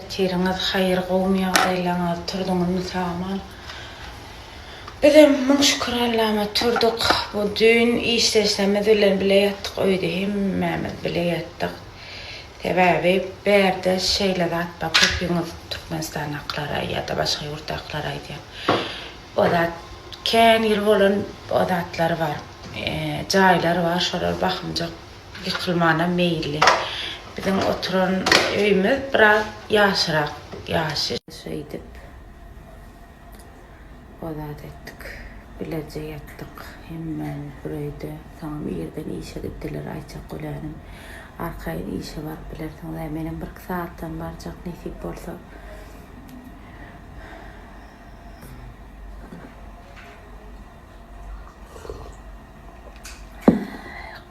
Ertiriňiz haýyr gowmy ýagdaýlaňyz turdyňyzmy saman bizem müň şükür Allama turduk bu düýn işdeşlerimiz bilen bile ýatdyk öýde hemmämiz bile ýatdyk Sebäbi bärde şeýle zat bar köpüňiz Türkmenistandakylara ýada başga ýurtdakylara aýdýan o zat kän ýyl bolan o zatlar bar jaýlar bar şolar bakymjak ýykylmanam meýilli biziň oturan öýümiz biraz ýagşyrak ýaşy şeýdip. O zat etdik. Bilerje ýatdyk. Hemmämiz bir öýde. Soňam irden işe gitdiler. Aýtjak gölänem. Arkaýyn işe baryp bilersiňiz-ä. Menem birki sagatdan barjak, nesip bolsa.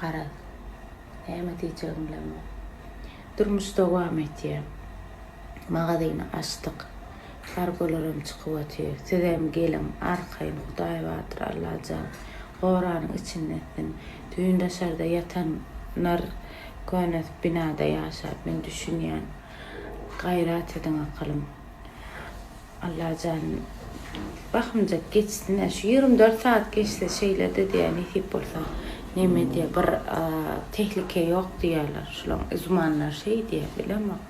Garaz, näme diýjegim bilemok. Durmuş dowam etýär. Magazyny açdyk. Kargolaram çykyp otyr. Sizem geliň, arkaýyn Hudaýbadyr Allajan goranyň içinde etsin. Düýn daşarda ýatanlar köne binada ýaşap, men düşünýän. Gaýrat ediň akylym. Allajan bahymjak geçsin-ä. Şu ýigrimi dört saat geçse şeýledi diýýär, nesip bolsa. Neme diýýär, bir tehlike ýok diýýärler. Şulaň üzmanlary şeý diýýär, bilemok.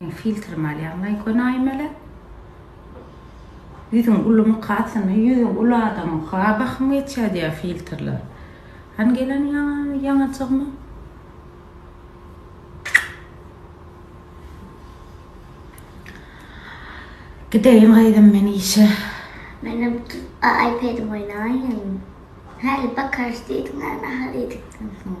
Oň filtrini alýaň daýy konaýmaly. Ýüzüň ulumy kasyny ýüzi uly adamyň ha bahym geçýä diýä filtrler. Hany gelen ýaňa ýaňajygmy. Gideýin gyzym men işe. Menem iPadim oýnaýyn. Häli bakarys diýdiňä nahar iýdikden soň.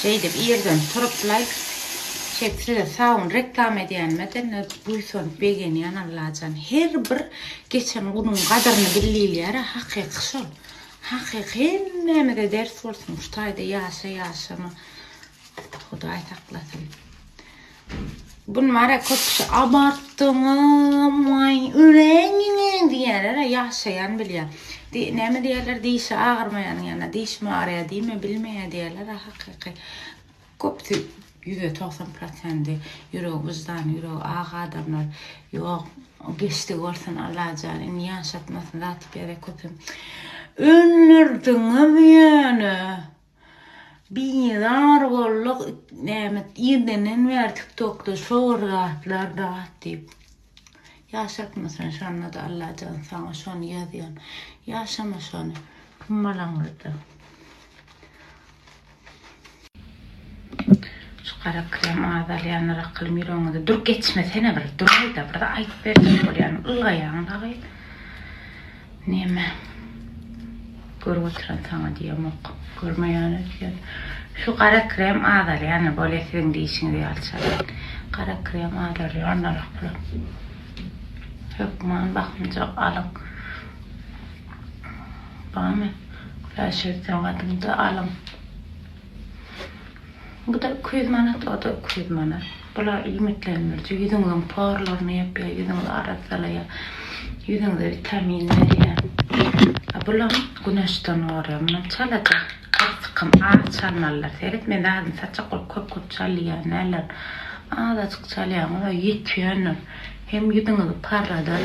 Şeýdip irden turup laýk çek size sawun reklama edýänime dine buýsanyp begenýän Allajan her bir geçen gunuň gadyryny bil diýilýärä hakyky şol hakyky hemmämize ders bolsun şu taýda ýaşa ýaşama Hudaý saklasyn. Bun mara köp kişi abartdyňyz, maý, öleýiniňi diýerler, ýaşaýan bilýär. Di, näme diýerler, dişi agyrmaýanyň ýanyna diş mi agyrýar diýme, bilmeýär diýerler, a hakyky. Köpüsi ýüz togsan prosenti ýüregi wyždany, ýüregi ak adamlar, ýok, geçdi bolsun Allah jan, indi ýaşatmasyn zat ýere köpem. Öldürdiňiz ýöne. Bizar bolduk näme irdenden bäri tiktokda şor zatlar dat diýip. Ýaşapmysan şonda-da Allajan saňa şony ýazýan. Ýaşama şony hummalaňyzda. Şu gara krem azalýanlar akyl ýüregiňizi dur geçmesene bir duraýda bir aýdyp berjek bolýan ylgaýaň dagy. Näme? Görüp oturan saňa diýemok. Görmeýän öýtýän. Şu gara krem azalýana bolýa siziň diýişiňiz ýaly çagan. Gara krem azalýar onnarak bolar. Hökman bakymjak alyň. Barmy? Güläş öýtýän gadyňda alyň. Bu-da iki ýüz manat, o-da iki ýüz manat. Bular iýmitlendiriji, ýüzüňiziň porlaryny ýapýar, ýüzüňizi arassalaýar, ýüzüňize witamin berýär. A bulam güneşden gorýar. Mundan çalaja bir sykym az çalmalylar. Seret, men zadyny saçjak bolup köp-köp çalýan däldirin. Azajyk çalýaňyz-a ýetýändir. Hem ýüzüňizi parladar.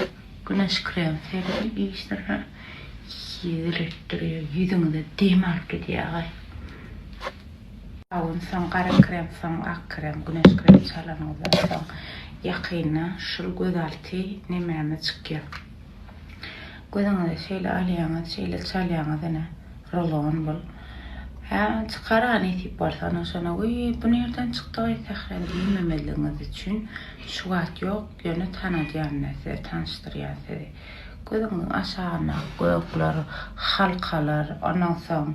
Güneş krem serli işdirýär. Ýigretdirýär. Ýüzüňize dem alyp gidýär agaý. Sabyn soň gara krem soň ak krem güneş krem çalanyňyzdan soň ýakynda şul gözalty nememe çykýar. Gözüňize şeýle alýaňyz şeýle çalýaňyz ine rulon bul. Hä çykar a nesip bolsa ondan şonda weý bu nirden çykdy gaý Sähra diýmemezligiňiz üçin şu wagt ýok. Ýöne tanadýan men sizi, tanyşdyrýan sizi. Gözüňiziň aşagyndaky gökler, halkalar, ondan soň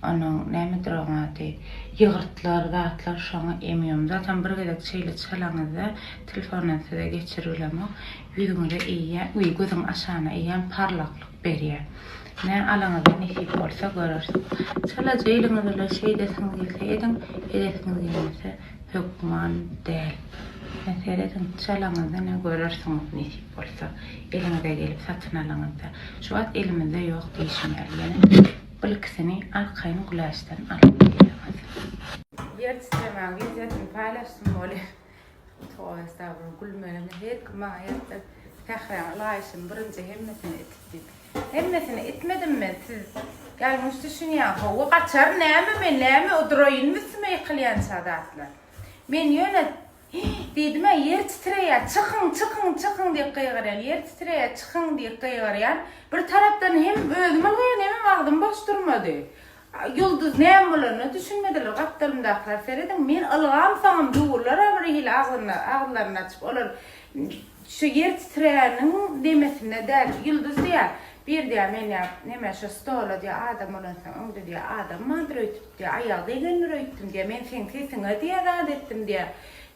onuň nämedir oň ady, ýygyrtlar, zatlar şoňa emýom. Zatam bir gezek şeýle çalaňyzda telefondan size geçiribilemok. Ýüzüňize eýýä, öý, gözüň aşagyna eýýäm parlaklyk berýär. Nä alyňyza nesip bolsa göreris. Çalaja eliňiz bilen şeýdesiňiz gelse ediň, edesiňiz gelmese hökman däl. Ýa serediň, çalaňyzda ne görersiňiz nesip bolsa, eliňize gelip satyn alyňyzda. Şu wagt elimizde ýok diýşim ýaly, ýene birkisini arkaýyn güläçden alyp gelýäňiz. Ýer titremäň wideosyny paýlaşsyn bolýa. Toý esasynda gülmegini her kim maňa ýatdy. Sähräň ylaýşyny birinji hemmesini itip diýip. Hemmesini itmedim men, siz ýalňyş düşünýäň. Hawa, gaçar näme men, näme odraýynmy üstüme ýykylýança zatlar. Men ýöne, Hi! diýdim-ä, ýer titreýär, çykyň, çykyň, çykyň diýip gygyrýan, ýer titreýär, çykyň diýip gygyrýan. Bir tarapdan hem özüm ylgaýan, hemem agzym boş durmady. Ýulduz näme bolanyna düşünmediler. Gapdalymdakylar serediň, men ylgam soňam durlar-a bir hili agzyny, agzylaryny açyp. Olar şu ýer titreýäniň demesinde däl. Ýulduz diýýär, Bir diýýär, men diýýär, neme şu stola diýýär, adam bolansoň öňde diýýär, adam bardyr öýtüp diýýär, aýagy degendir öýtdüm diýýär, men seň sesiňe diýýär zat etdim diýýär.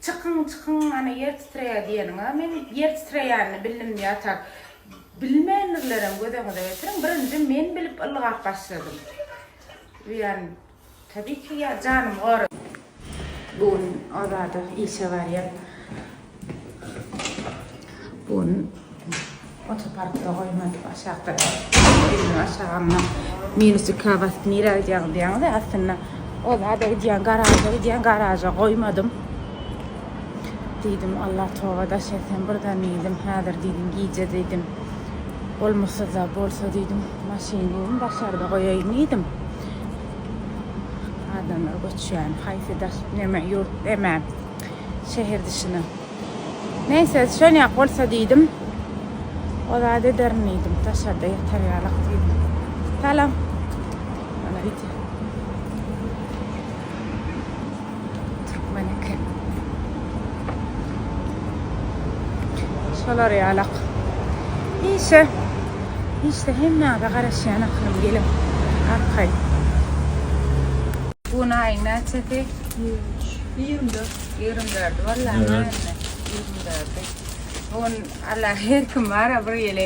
Çykyň, çykyň, ana ýer titreýär diýeniň-a men ýer titreýänini bildim diýýär, tak. Bilmeýändirlerem göz öňüňize getiriň. Birinji men bilip ylgap başladym. Buýan tabii ki ýa janymy goraý. Bu gün Azada işe barýan. Bu gün otoparkda goýmady aşakda. Elini aşaga alma. Minus ikä basyp nirä gidýäňiz diýýäňiz. Aslynda Azada gidýän garaja gidýän garaja goýmadym. Diýdim, Allah toba daş etsem birden diýdim, häzir diýdim gije diýdim, bolmuşsyz-a bolsa diýdim, maşyn diýdim daşarda goýaýyn diýdim. Adamlar göçýän, haýsy daş, neme, ýurt, neme, şäher dyşyna. Näse, şonýak bolsa diýdim, o zat ederin diýdim, daşarda ýatar ýalyk diýdim. Salam. Ýöne ýiti. Türkmen eken. Şolar ýalak. Işe. Işde hemmäge garaşýan akylym geliň. Arkaý. Bugün aýyň näçesi? Ýigrimi dört. Ýigrimi dördi bolýar. Ýigrimi dördi. Bugün alla her kim bara bir ýeli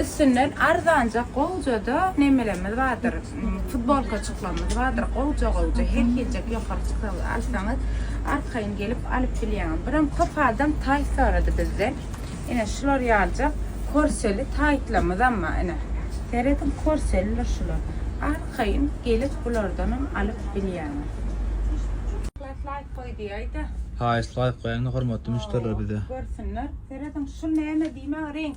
Üstünden arzanja gowjada nemelerimiz bardyr. Futbolkaçyklarymyz bardyr. Gowja-gowja her hiljek ýokary çykalga alsaňyz, arkaýyn gelip alyp bilýäňiz. Birem köp adam taýt sorady bizden. Ine şular ýaljak korseli taýtlarymyzam bar. Ine, serediň korselidir şular. Arkaýyn gelip bulardanam alyp bilýäňiz. Haýyşt laýk goý diýäýdä. Haýyşt laýk goýaýyňda hormatly müşderiler bize. Görsünler. Serediň şu näme diýmä reňk.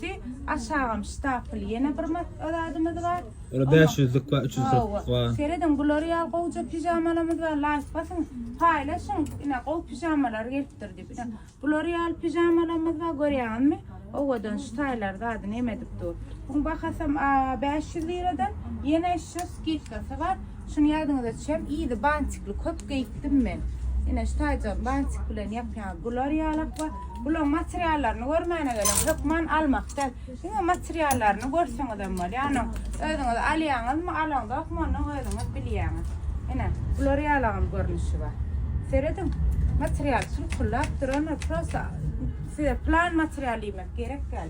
Ki aşagam ştapl ýene bir matga zadymyz bar. Ola 500 lik bar 300 lik bar. Serediň bular ýaly gowja pijamalarymyz bar laýk basyň paýlaşyň ine gowy pijamalar gelipdir diýip ine bular ýaly pijamalarymyz bar görýäňizmi owadan şu taýlar zady neme edip dur buň bahasam 500 liradan ýene şu skidkasy bar Şuny ýadyňyza düşem, yzy bantikli köp geýipdim men. Ine, şu taýjygy bantik bilen ýapýaňyz. Bular ýalakba. Bularyň materiallaryny görmäne gelen, hökman almak däl. Diňe materiallaryny görseňizem bolýar. Onuň özüňiz alýaňyzmy, alaňzokmy, onuň özüňiz bilýäňiz. Ine, bular ýalagam görnüşi bar. Serediň, material çulkullap durandyr. Prosta size plan material diýmek gerek däl.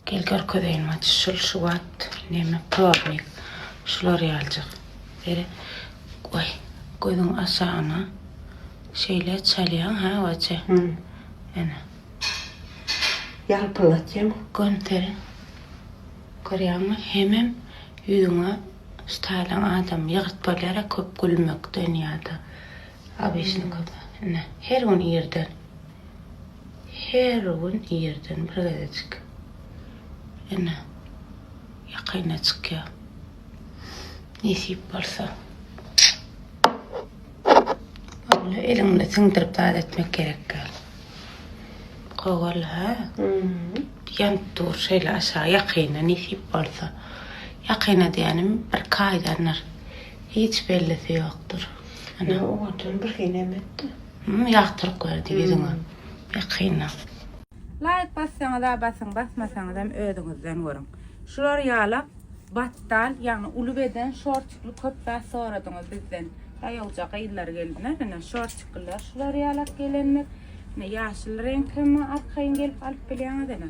Gel görkezeýin, Matyş, şul şu wagt Neme tornik şular ýaljak. Beri goý. Gözüň aşagyna şeýle çalýaň ha wace. Ene. Ýalpylatýaň. Gömseri. Görýäňmi? Hemem ýüzüňe ştaýlaň adam ýygyrt bolýar-a köp gülmekden ýa-da. Obişnikoda. Ine. Her gün irden. Her gün irden bir gezejik. Ene, ýakaýyna çykýar. Nesip bolsa. Ola eliňde siňdirip zat etmek gerek. Gowal, ha? Ýanyp dur şeýle aşa ýakaýyna nesip bolsa. Ýakaýyna diýenim bir kaýdandyr. Hiç bellisi ýokdur. Ene, owadan bir henem etdi. Hum ýagtyryk berdi ýüzüňe ýakynda. Laýk bassaňyza basyň basmasaňyzam özüňizden görüň. Şular ýala batdal ýagny uly beden şortikli köp zat soradyňyz bizden. Daýawja gyzlar geldiler ine şortikliler şular ýalak gelendir. Ine ýaşyl reňk hem arkaýyn gelip alyp bilýäňiz ine.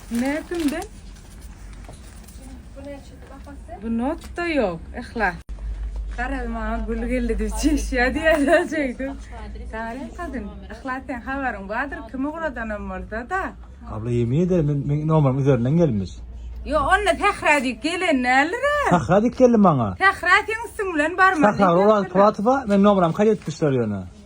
Nätünde? Bu näçedi bahasy? Bu notda yok. Ihlas. Garaz maňa gül geldi diýip çişýär diýýärler şeýdip. Sarin kadyn, Ihlas sen habaryň bardyr, kim ugradanam bolsa-da. Abla yemin ederim men, men nomerim üzerinden gelmiş. Yo onda Sähra diýip gelen däldir-ä. Sahra diyip geldi maňa. Sähra seň üstüň bilen barmaly. Sahra Oraz Puratowa men nomeram kaýt etmişler ýöne.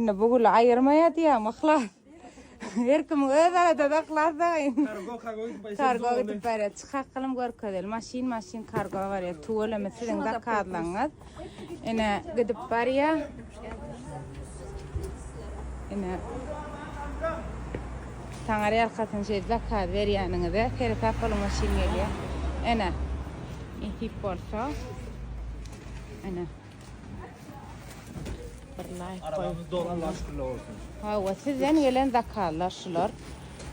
Indi bu güli aýyrmaýar diýýäňmi yhlas? Her kimiň öz adady yhlas dagyn. Kargo kargo gidip barýa. Kargo gidip barýa. Çykak gylym görkezeli. Maşyn maşyn kargo barýa. Tüweleme siziň zakazlaryňyz. Ine gidip barýa. Ine Taňar ýalkasyn şeýdip zakaz berýäniňize seresap boluň maşyn gelýär. Ene. Nesip bolsa. Ene. Arabamyz dolu Allah şükürler olsun. Hawa, sizden gelen zakazlar şular.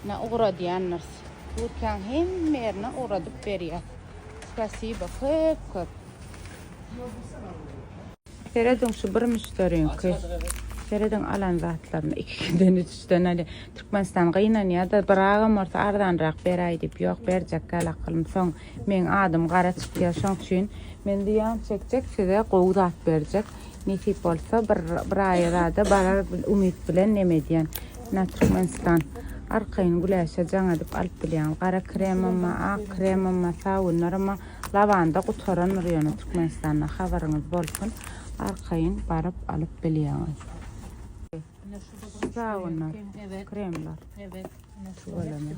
Ne ugradýandyrs. Türkiýäň hemme ýerine ugradyp berýär. Spasibo köp köp. Serediň şu bir müşderiňki. Serediň alan zatlaryny ikiden üçden hadi Türkmenistan gynanýar-da, bir agam bolsa arzanrak beräý diýip, ýok berjek gal akylym soň Meň adym gara çykýar şoň üçin men zyýan çekjek size gowy zat berjek nesip bolsa bir bir aýa zada barar umyt bilen neme edýän na türkmenistan arkaýyn güläşe jaň edip alyp bilýän gara kremamma ak kremamma sabunlarama lawanda gutarandyr ýöne türkmenistanda habaryňyz bolsun arkaýyn baryp alyp bilýäňiz sabunlar kremler şu bolany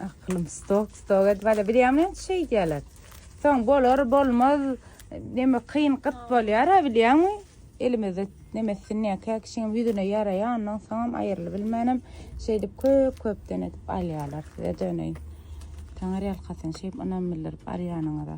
Akylym stok stok edip ala bilýämi näçe şey diýerler. Soň bolar bolmaz neme kyn gyt bolýar ha bilýäňmi? Elimizde nemesini näkä kişiň ýüzüne ýaraýandan soňam aýrylyp bilmänem şeýdip köp köpden edip alýarlar size döneýin. Taňar ýalkasyn şeýdip ynam bildirip alýanyňyza.